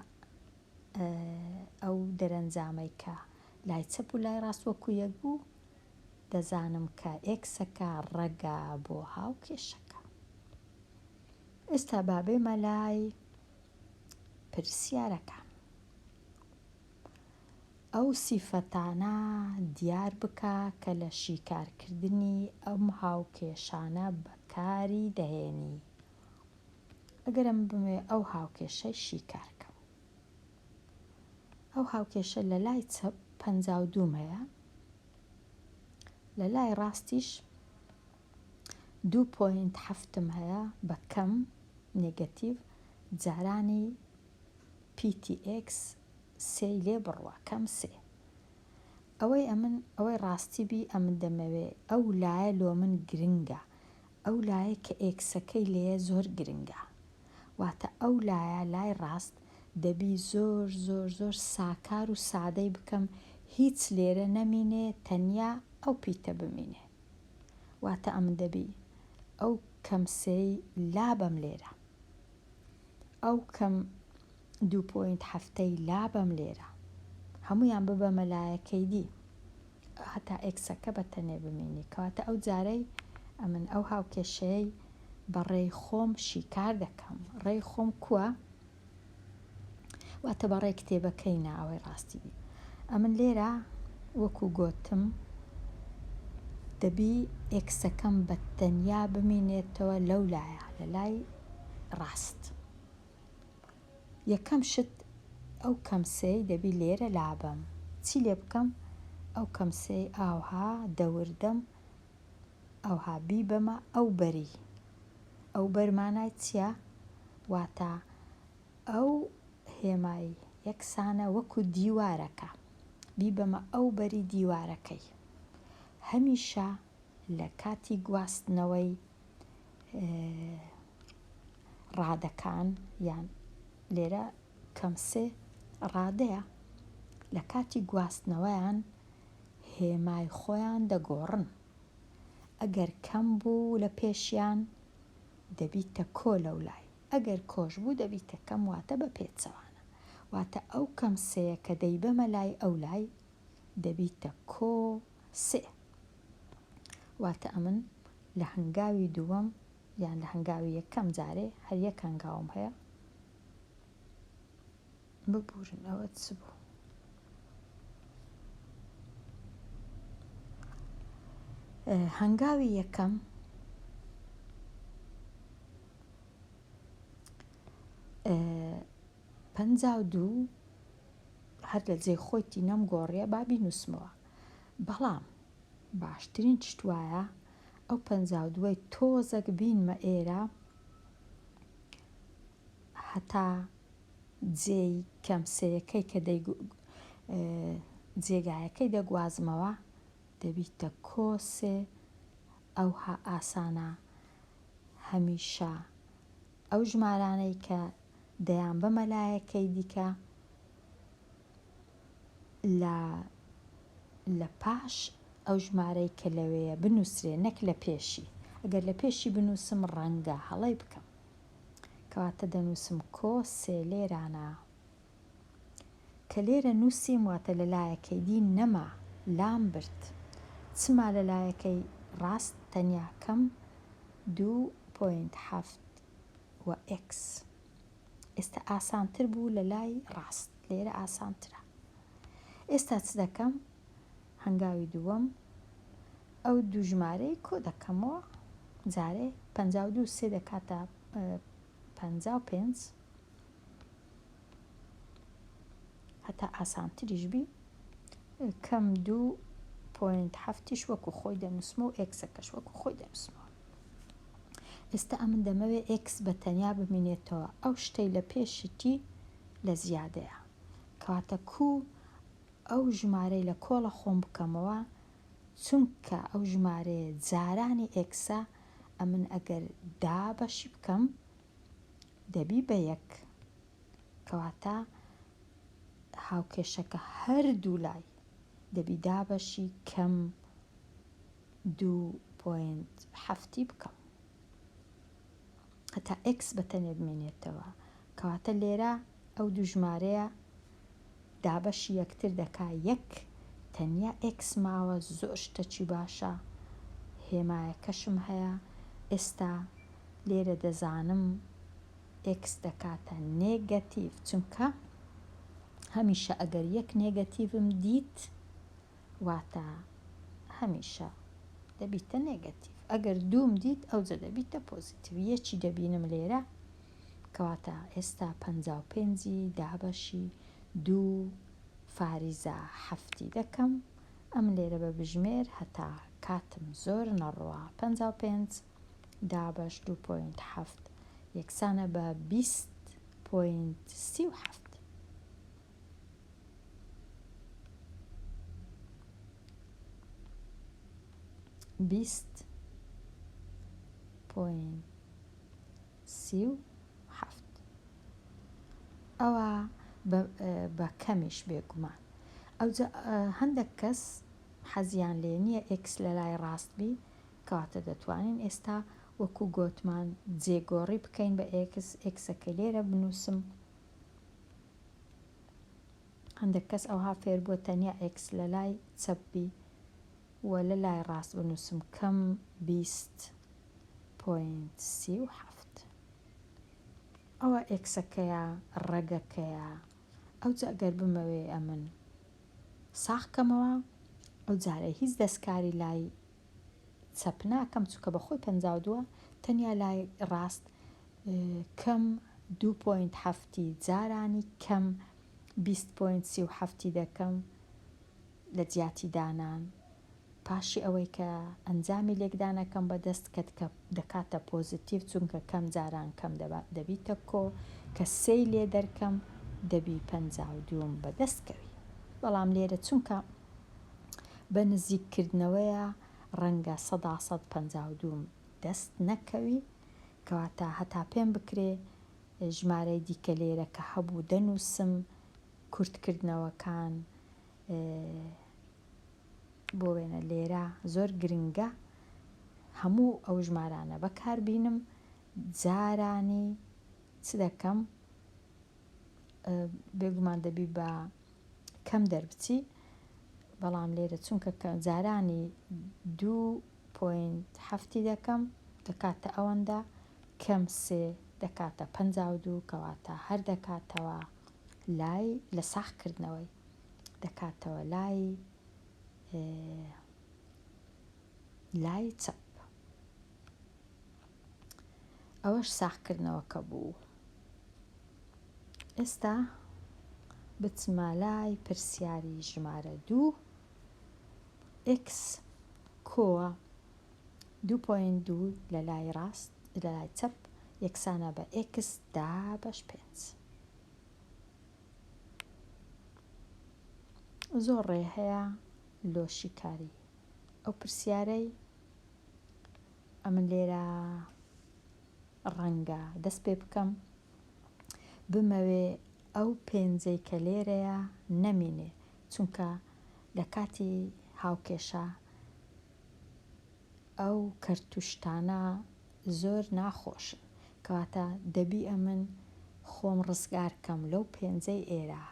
ئەو دەرەنجامەی کە لای چەپ و لای ڕاست وەکو یەک بوو، دەزانم کە ئێکسەکە ڕەگە بۆ هاوکێشەکە. ئێستا با بێمە لای پرسیارەکان. ئەو سیفەتانە دیار بکە کە لە شیکارکردنی ئەم هاوکێشانە بەکاری دەهێنی. ئەگەرم بمەوێ ئەو هاوکێشەی شیکار کەم. ئەو هاوکێشە لە لای چەپ پەنجا و دوو مەیە، لە لای ڕاستیش دوو پۆینت حەفتم هەیە بە کەم نێگەتیڤ جارانی پیتی ئێکس سێی لێ بڕوە کەم سێ. ئەوەی ئەمن ئەوەی ڕاستی بی ئەمن دەمەوێ ئەو لایە لۆ من گرنگە ئەو لایەی کە ئێکسەکەی لێیە زۆر گرنگە واتە ئەو لایە لای ڕاست دەبی زۆر زۆر زۆر ساکار و سادەی بکەم هیچ لێرە نەمینێ تەنیا ئەو پیتە بمینێ واتە ئەمن دەبی ئەو کەم سێی لابەم لێرە ئەو کەم دوو پۆینت حەفتەی لابەم لێرە هەموویان ببەمە لایەکەی دی هەتا ئێکسەکە بە تەنێ بمینی کەواتە ئەو جارەی ئەمن ئەو هاوکێشەیەی بە ڕێی خۆم شیکار دەکەم ڕێی خۆم کووە واتە بە ڕێ کتێبەکەی نا ئەوەی ڕاستی بی ئەمن لێرە وەکو گۆتم دەبی ئێکسەکەم بە تەنیا بمینێتەوە لەو لایە لە لای ڕاست یەکەم شت ئەو کەمسەی دەبی لێرە لابەم چی لێ بکەم ئەو کەمسەی ئاوها دەوردەم ئەوها بیبەمە ئەو بەری ئەو بەر مانای چییە واتا ئەو هێمای یەکسانە وەکو دیوارەکە بیبەمە ئەو بەری دیوارەکەی هەمیشە لە کاتی گواستنەوەی ڕادەکان یان لێرە کەم سێ ڕادەیە لە کاتی گواستنەوەیان هێمای خۆیان دەگۆڕن ئەگەر کەم بوو لە پێشیان دەبیتە کۆ لەو لای ئەگەر کۆش بوو دەبیتە کەم واتە بە پێچەوانە واتە ئەو کەم سەیە کە دەیبەمە لای ئەو لای دەبیتە کۆ سێ واتە ئەمن لە هەنگاوی دووەم یان لە هەنگاوی یەکەم جارێ هەر یەک هەنگاوم هەیە ببورن ئەوە چ بوو هەنگاوی یەکەم پەنجا و دوو هەر لە جێی خۆیتی نەمگۆڕیە با بینووسمەوە بەڵام باشترین شت وایە ئەو پەنجا و دووەی تۆزەک بینمە ئێرە هەتا جێی کەم سێیەکەی کە جێگایەکەی دەگوازمەوە دەبیتە کۆسێ ئەوها ئاسانە هەمیشە ئەو ژمارانەی کە دەیان بە مەلایەکەی دیکە لە لە پاش ئەو ژمارەی کە لەوەیە بنووسرێ نەک لە پێشی ئەگەر لە پێشی بنووسم ڕەنگە هەڵەی بکەم کەواتە دەنووسم کۆ سێ لێرانە کە لێرە نووسیم واتە لە لایەکەی دی نەما لام برد چما لە لایەکەی ڕاست تەنیا کەم دوو پۆینت هەفت و ئێکس. ئێستا ئاسانتر بوو لە لای ڕاست لێرە ئاسانترە. ئێستا چ دەکەم؟ هەنگاوی دووەم ئەو دوو ژمارەی کۆ دەکەمەوە جارێ پەنجا و دوو سێ دەکاتە پەنجا و پێنج هەتا ئاسانتریش بی کەم دوو پۆینت هەفتیش وەکو خۆی دەنووسمە و ئێکسەکەش وەکو خۆی دەنووسمەوە ئێستا ئەمن دەمەوێ ئێکس بە تەنیا بمینێتەوە ئەو شتەی لە پێشیتی لە زیادەیە کەواتە کو ئەو ژمارەی لە کۆڵە خۆم بکەمەوە چونکە ئەو ژمارەیە جارانی ئێکسە ئەمن ئەگەر دا بەشی بکەم دەبی بە یەک کەواتە هاوکێشەکە هەردوو لای دەبی دابەشی کەم دوو پۆینت هەفتی بکەم هەتا ئکس بە تەنێ بمێنێتەوە کەواتە لێرە ئەو دوو ژمارەیە دابەشی یەکتر دەکا یەک تەنیا ئێکس ماوە زۆر شتەکی باشە هێمایەکەشم هەیە ئێستا لێرە دەزانم ئێکس دەکاتە نێگەتیڤ چونکە هەمیشە ئەگەر یەک نێگەتیڤم دیت واتە هەمیشە دەبیتە نێگەتیڤ ئەگەر دووم دیت ئەوجە دەبیتە پۆزیتیڤ یەکی دەبینم لێرە کەواتە ئێستا پەنجا و پێنج ی دابەشی دوو فاریزە حەفتی دەکەم ئەم لێرە بە بژمێر هەتا کاتم زۆر نەڕوا پەنجا و پێنج دابەش دوو پۆینت حەفت یەکسانە بە بیست پۆینت سی و حەفت بیست پۆینت سی و حەفت. ئەوا بە کەمیش بێگومان. ئەوجا هەندەک کەس حەزیان لێ نیە ئێکس لە لای ڕاست بی، کەواتە دەتوانین ئێستا وەکو گۆتمان جێگۆڕی بکەین بە ئێکس، ئێکسەکەی لێرە بنووسم. هەندەک کەس ئەوها فێر بووە تەنیا ئێکس لە لای چەپ بی و لە لای ڕاست بنووسم، کەم بیست. پۆینت سی و حەفت ئەوە ئێکسەکەیە ڕەگەکەیە ئەوجا ئەگەر بمەوێ ئەمن ساخ کەمەوە ئەو جارە هیچ دەستکاری لای چەپ ناکەم چووکە بە خۆی پەنجا و دووە تەنیا لای ڕاست کەم دو پۆینت هەفتی جارانی کەم بیست پۆینت سی و هەفتی دەکەم لە جیاتی دانان پاشی ئەوەی کە ئەنجامی لێکدانەکەم بەدەست کەت کە دەکاتە پۆزتیڤ چونکە کەم جاران کەم دەبیتە کۆ کە سێی لێ دەرکەم دەبی پەنجا و دووم بەدەست کەوی بەڵام لێرە چونکە بە نزیک کردنەوەیە ڕەنگە سەدا سەد پەنجا و دووم دەست نەکەوی کەواتە هەتا پێم بکرێ ژمارەی دیکە لێرە کە هەبوو دەنووسم کورتکردنەوەکان بۆ وێنە لێرە زۆر گرنگە هەموو ئەو ژمارانە بەکار بینم جارانی چ دەکەم بێگومان دەبی بە کەم دەربچی بەڵام لێرە چونکە جارانی دوو پوینت هەفتی دەکەم دەکاتە ئەوەندە کەم سێ دەکاتە پ دوو کەواتە هەر دەکاتەوە لای لە ساخ کردنەوەی دەکاتەوە لای لای چەپ ئەوەش ساخکردنەوەکە بوو ئێستا بچمە لای پرسیاری ژمارە دوو ئکس کۆوە دوو پوین دوو لە لای ڕاست لە لای چەپ یەکسانە بە ئکس دا بەش پێنج زۆر ڕێ هەیە لۆ شیکاری ئەو پرسیارەی ئەمن لێرە ڕەنگە دەست پێ بکەم بمەوێ ئەو پێنجەی کە لێرەیە نەمینێ چونکە لە کاتی هاوکێشە ئەو کەرتوشتانە زۆر ناخۆشن کەواتە دەبی ئەمن خۆم ڕزگار کەم لەو پێنجەی ئێرا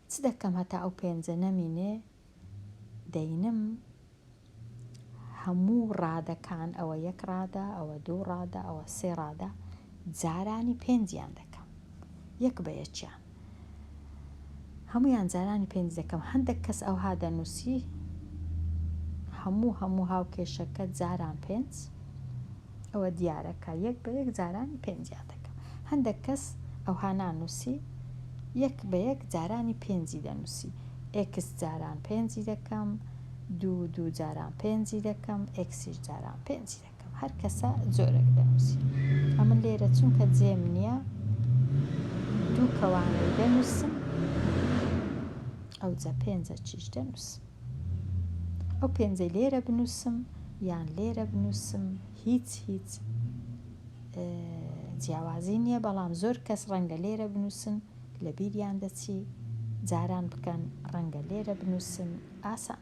چ دەکەم هەتا ئەو پێنجە نەمینێ دەینم هەموو ڕادەکان ئەوە یەک ڕادە ئەوە دوو ڕادە ئەوە سێ ڕادە جارانی پێنجیان دەکەم یەک بە یەکیان. هەموویان جارانی پێنج دەکەم هەندێک کەس ئەوها دەنووسی هەموو هەموو هاوکێشەکە جاران پێنج ئەوە دیارەکە یەک بە یەک جارانی پێنجیا دەکەم هەندێک کەس ئەوها نانووسی یەک بە یەک جارانی پێنجی دەنووسی ئێکس جاران پێنجی دەکەم دوو دوو جاران پێنجی دەکەم ئێکسیش جاران پێنجی دەکەم هەر کەسە جۆرێک دەنووسی. ئەمن لێرە چونکە جێم نییە دوو کەوانەی دەنووسم ئەوجا پێنجە چیش دەنووسم ئەو پێنجەی لێرە بنووسم یان لێرە بنووسم هیچ هیچ جیاوازی نییە بەڵام زۆر کەس ڕەنگە لێرە بنووسن لە بیریان دەچی جاران بکەن ڕەنگە لێرە بنووسن ئاسان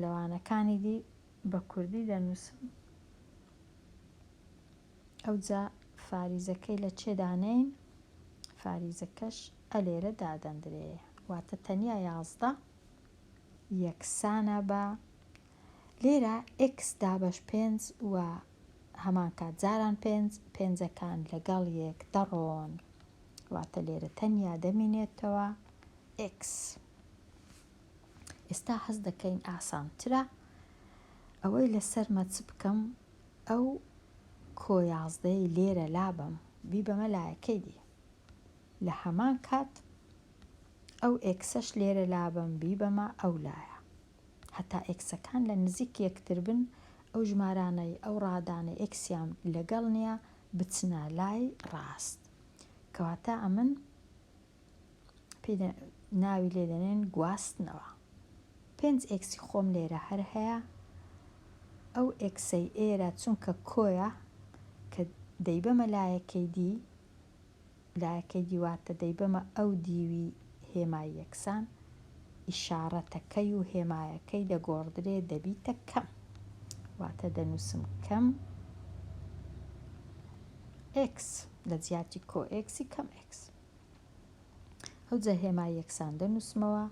لەوانەکانی دی بە کوردی دەنووسم ئەوجا فاریزەکەی لە چێ دانێین فاریزەکەش ئە لێرە دادەندرێ واتە تەنیا یازدە یەکسانە بە لێرە ئێکس دابەش پێنج و هەمان کات جاران پێنج پێنجەکان لەگەڵ یەک دەڕۆن واتە لێرە تەنیا دەمینێتەوە ئێکس ئێستا هەست دەکەین ئاسانترە ئەوەی لەسەرمە چ بکەم ئەو کۆ یازدەی لێرە لابەم بیبەمە لایەکەی دی لە هەمان کات ئەو ئێکسەش لێرە لابەم بیبەمە ئەو لایە هەتا ئێکسەکان لە نزیک یەکتر بن ئەو ژمارانەی ئەو ڕادانە ئێکسیان لەگەڵ نییە بچنە لای ڕاست کەواتە ئەمن پێ ناوی لێ دەنێن گواستنەوە پێنج ئێکسی خۆم لێرە هەر هەیە ئەو ئێکسەی ئێرە چونکە کۆیە کە دەیبەمە لایەکەی دی لایەکەی دیواتە دەیبەمە ئەو دیوی هێمای یەکسان ئیشارەتەکەی و هێمایەکەی دەگۆڕدرێ دەبیتە کەم واتە دەنووسم کەم ئێکس لە جیاتی کۆ ئێکسی کەم ئێکس ئەوجا هێما یەکسان دەنووسمەوە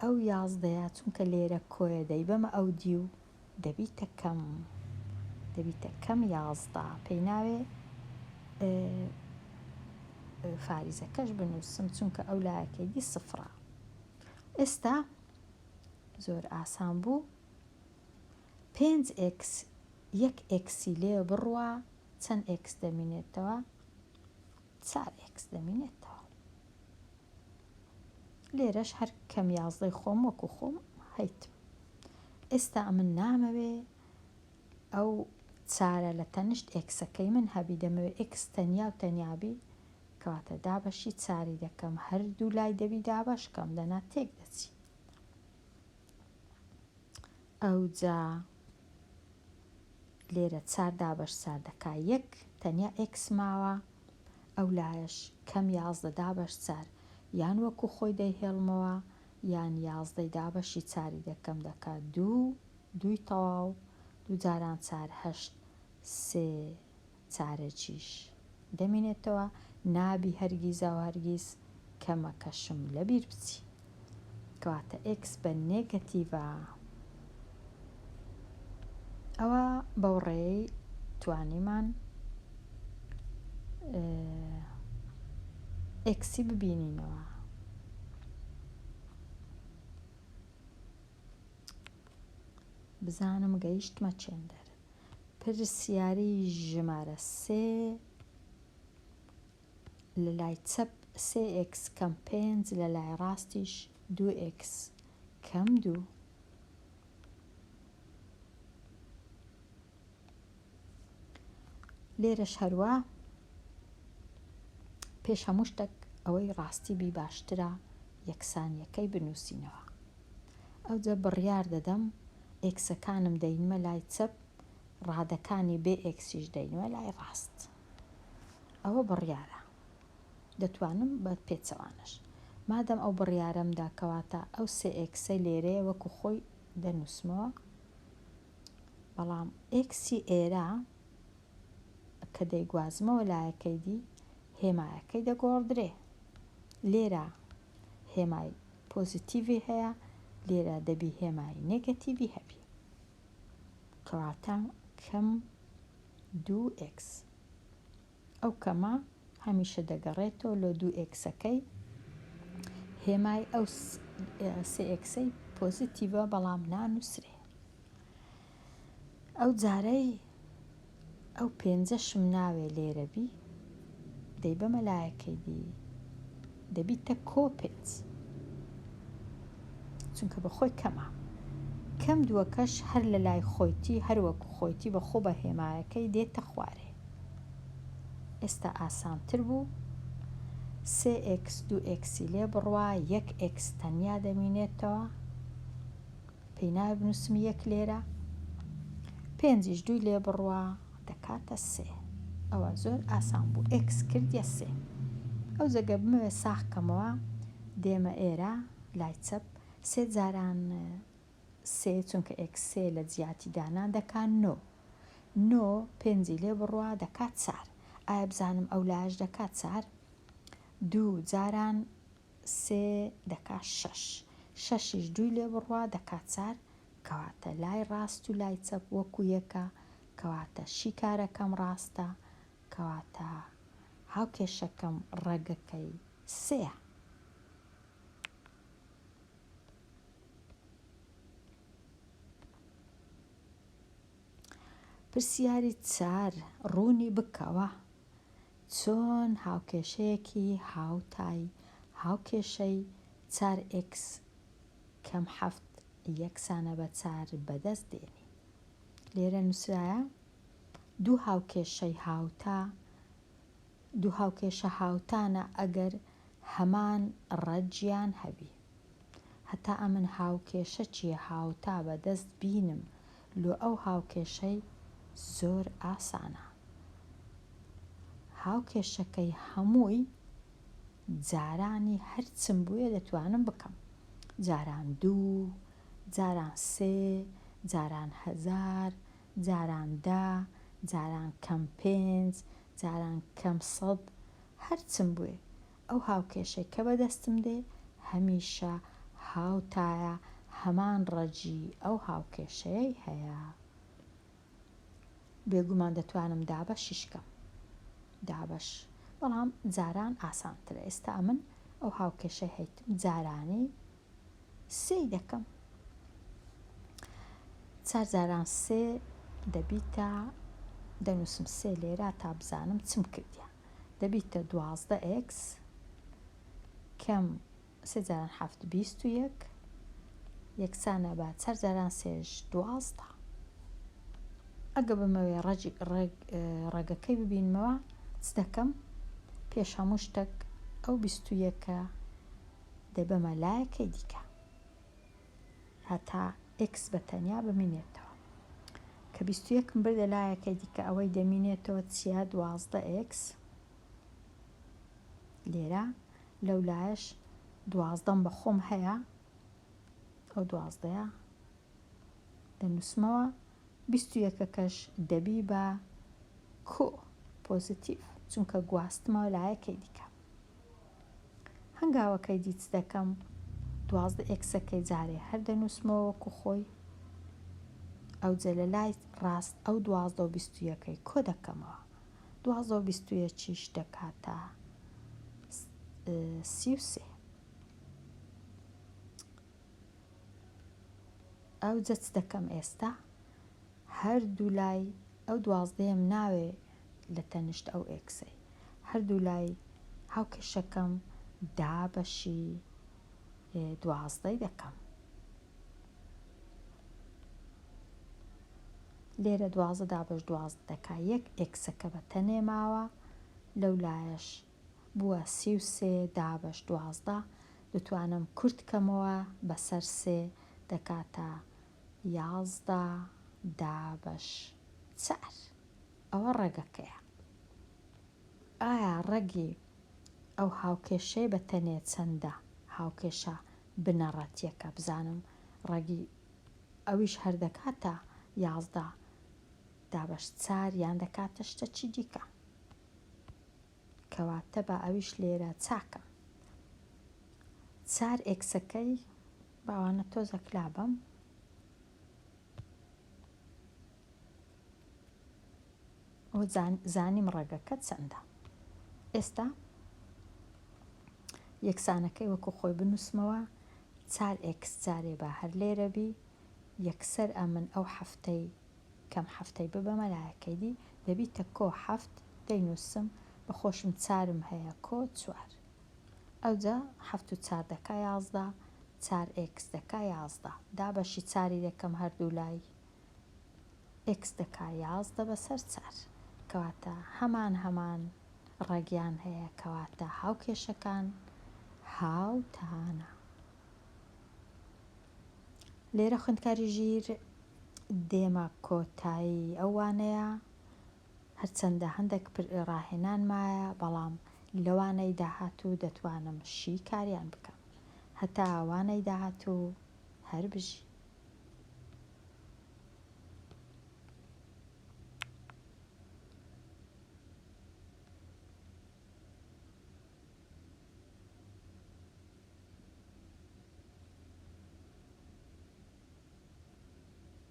ئەو یازدەیە چونکە لێرە کۆیە دەیبەمە ئەو دی و دەبیتە کەم دەبیتە کەم یازدە پێی ناوێ فاریزەکەش بنووسم چونکە ئەو لایەکەی دی سفرە ئێستا زۆر ئاسان بوو پێنج ئکس یەک ئکسی لێ بڕوا چەند ئکس دەمینێتەوە چار ئێکس دەمینێتەوە. لێرەش هەر کەم یازدەی خۆم وەکو خۆم هەیتم ئێستا ئەمن نامەوێ ئەو چارە لە تەنشت ئێکسەکەی من هەبی دەمەوێ ئێکس تەنیا و تەنیابی کەواتە دابەشی چاری دەکەم هەردوو لای دەبی دابەشکەم دەنا تێک دەچی ئەوجا لێرە چار دابەش چار دەکا یەک تەنیا ئێکس ماوە ئەو لایەش کەم یازدە دابەش چار یان وەکو خۆی دەیهێڵمەوە یان یازدەی دابەشی چاری دەکەم دەکا دوو دووی تەواو دوو جاران چار هەشت سێ چارەکیش دەمینێتەوە نابی هەرگیزاوهەرگیز کەمەکەشم لەبیر بچی کەواتە ئێکس بە نێگەتیڤە ئەوا بەوڕێی توانیمان ئێکسی ببینینەوە بزانم گەیشتمە چێندەر. پرسیاری ژمارە سێ لە لای چەپ سێ ئێکس کەم پێنج لە لای ڕاستیش دوو ئێکس کەم دوو لێرەش هەروە پێش هەموو شتێک ئەوەی ڕاستی بی باشترە یەکسانیەکەی بنووسینەوە ئەوجە بڕیار دەدەم ئێکسەکانم دەینمە لای چەپ ڕادەکانی بێ ئێکسیش دەینمە لای ڕاست ئەوە بڕیارە دەتوانم بە پێچەوانەش مادەم ئەو بڕیارەمدا کەواتە ئەو سێ ئێکسەی لێرەیە وەکو خۆی دەنووسمەوە بەڵام ئێکسی ئێرە کە دەیگوازمەوە لایەکەی دی هێمایەکەی دەگۆڕدرێ لێرە هێمای پۆزیتیڤی هەیە لێرە دەبی هێمای نێگەتیڤی هەبی کەواتە کەم دوو ئێکس ئەو کەمە هەمیشە دەگەڕێتەوە لۆ دوو ئێکسەکەی هێمای ئەو سێ ئێکسەی پۆزیتیڤە بەڵام نانووسرێ ئەو جارەی ئەو پێنجەشم ناوێ لێرە بی دەی بەمە لایەکەی دی دەبیتە کۆ پێنج چونکە بە خۆی کەمە کەم دووەکەش هەر لە لای خۆیتی هەروەکو خۆیتی بە خۆ بە هێمایەکەی دێتە خوارێ ئێستا ئاسانتر بوو سێ ئکس دوو ئکسی لێ بڕوا یەک ئکس تەنیا دەمینێتەوە پێی نایە بنووسم یەک لێرە پێنجیش دووی لێ بڕوا دەکاتە سێ ئەوە زۆر ئاسان بوو ئێکس کردە سێ ئەو جەگە بمەوێ ساخکەمەوە دێمە ئێرە لای چەپ سێ جاران سێ چونکە ئێکسێ لە جیاتی دانان دەکات نۆ نۆ پێنجی لێ بڕوا دەکات چار ئایا بزانم ئەو لاش دەکات چار دوو جاران سێ دەکا شەش. شەشیش دووی لێ بڕوا دەکا چار، کەواتە لای ڕاست و لای چەپ وەکوو یەکە، کەواتە شیکارەکەم ڕاستە، کەواتە هاوکێشەکەم ڕەگەکەی سێیە. پرسیاری چار، ڕوونی بکەوە. چۆن هاوکێشەیەکی هاوتای هاوکێشەی چار ئێکس کەم حەفت یەکسانە بە چار بەدەست دێنین؟ لێرە نووسرایە دوو هاوکێشەی هاوتا دوو هاوکێشە هاوتانە ئەگەر هەمان ڕەجیان هەبی. هەتا ئەمن هاوکێشە چیە هاوتا بە دەست بینم لۆ ئەو هاوکێشەی زۆر ئاسانە هاوکێشەکەی هەمووی جارانی هەرچم بوێ دەتوانم بکەم جاران دوو جاران سێ جاران هەزار جاران دە جاران کەم پێنج جاران کەم سەد هەرچم بوێ ئەو هاوکێشەی کە بەدەستم دێ هەمیشە هاوتایە هەمان ڕەجی ئەو هاوکێشەیەی هەیە بێگومان دەتوانم دابەشیش کەم دابەش بەڵام جاران ئاسانترە ئێستا ئەمن ئەو هاوکێشەی هەیتم جارانی سێی دەکەم چار جاران سێ دەبیتە دەنووسم سێ لێرە تا بزانم چم کردیا دەبیتە دوازدە ئکس کەم سێ جاران هەفت بیست و یەک یەکسانە بە چار جاران سێش دوازدە ئەگە بمەوێ ڕەجی ڕێگەکەی ببینمەوە چ دەکەم پێش هەموو شتێک ئەو بیست و یەکە دەبەمە لایەکەی دیکە هەتا ئێکس بە تەنیا بمینێتەوە کە بیست و یەکم بردە لایەکەی دیکە ئەوەی دەمینێتەوە چیە دوازدە ئێکس لێرە لەو لایەش دوازدەم بە خۆم هەیە ئەو دوازدەیە دەنووسمەوە بیست و یەکەکەش دەبی بە کو پۆزیتیڤ چونکە گواستمەوە لایەکەی دیکە هەنگاوەکەی دی چ دەکەم دوازدە ئێکسەکەی جارێ هەر دەنووسمەوە وەکو خۆی ئەوجە لە لای ڕاست ئەو دوازدە و بیست و یەکەی کۆ دەکەمەوە دوازدە و بیست و یەکیش دەکاتە سی و سێ ئەوجە چ دەکەم ئێستا هەردوو لای ئەو دوازدەیەم ناوێ لە تەنشت ئەو ئێکسەی هەردوو لای هاوکێشەکەم دا بەشی دوازدەی دەکەم. لێرە دوازدە دا بەش دوازدە دەکا یەک ئێکسەکە بە تەنێ ماوە لەو لایەش بووە سی و سێ دا بەش دوازدە دەتوانم کورت کەمەوە بەسەر سێ دەکاتە یازدە دابەش چار ئەوە ڕەگەکەیە. ئایا ڕەگی ئەو هاوکێشەی بە تەنێ چەندە؟ هاوکێشە بنەڕەتیەکە بزانم ڕەگی ئەویش هەر دەکاتە یازدە دابەش چار یان دەکاتە شتەچی دیکە. کەواتە با ئەویش لێرە چاکم. چار ئێکسەکەی باوانە تۆزە کلا بم. و زانیم ڕێگەکە چەندە ئێستا یەکسانەکەی وەکو خۆی بنووسمەوە چار ئێکس جارێ بە هەر لێرە بی یەکسەر ئەمن ئەو هەفتەی کەم هەفتەی ببەمە لایەکەی دی دەبیتە کۆ هەفت دەینووسم بە خۆشم چارم هەیە کۆ چوار ئەوجا حەفت و چار دەکا یازدە، چار ئێکس دەکا یازدە، دابەشی چاری دەکەم هەردوو لای، ئێکس دەکا یازدە بەسەر چار. کەواتە هەمان هەمان ڕەگیان هەیە، کەواتە هاوکێشەکان هاوتانە. لێرە خوێندکاری ژیر دێمە کۆتایی ئەو وانەیە. هەرچەندە هەندەک راهێنان مایە بەڵام لەوانەی داهاتوو دەتوانم شی کاریان بکەم هەتا وانەی داهاتوو هەر بژی.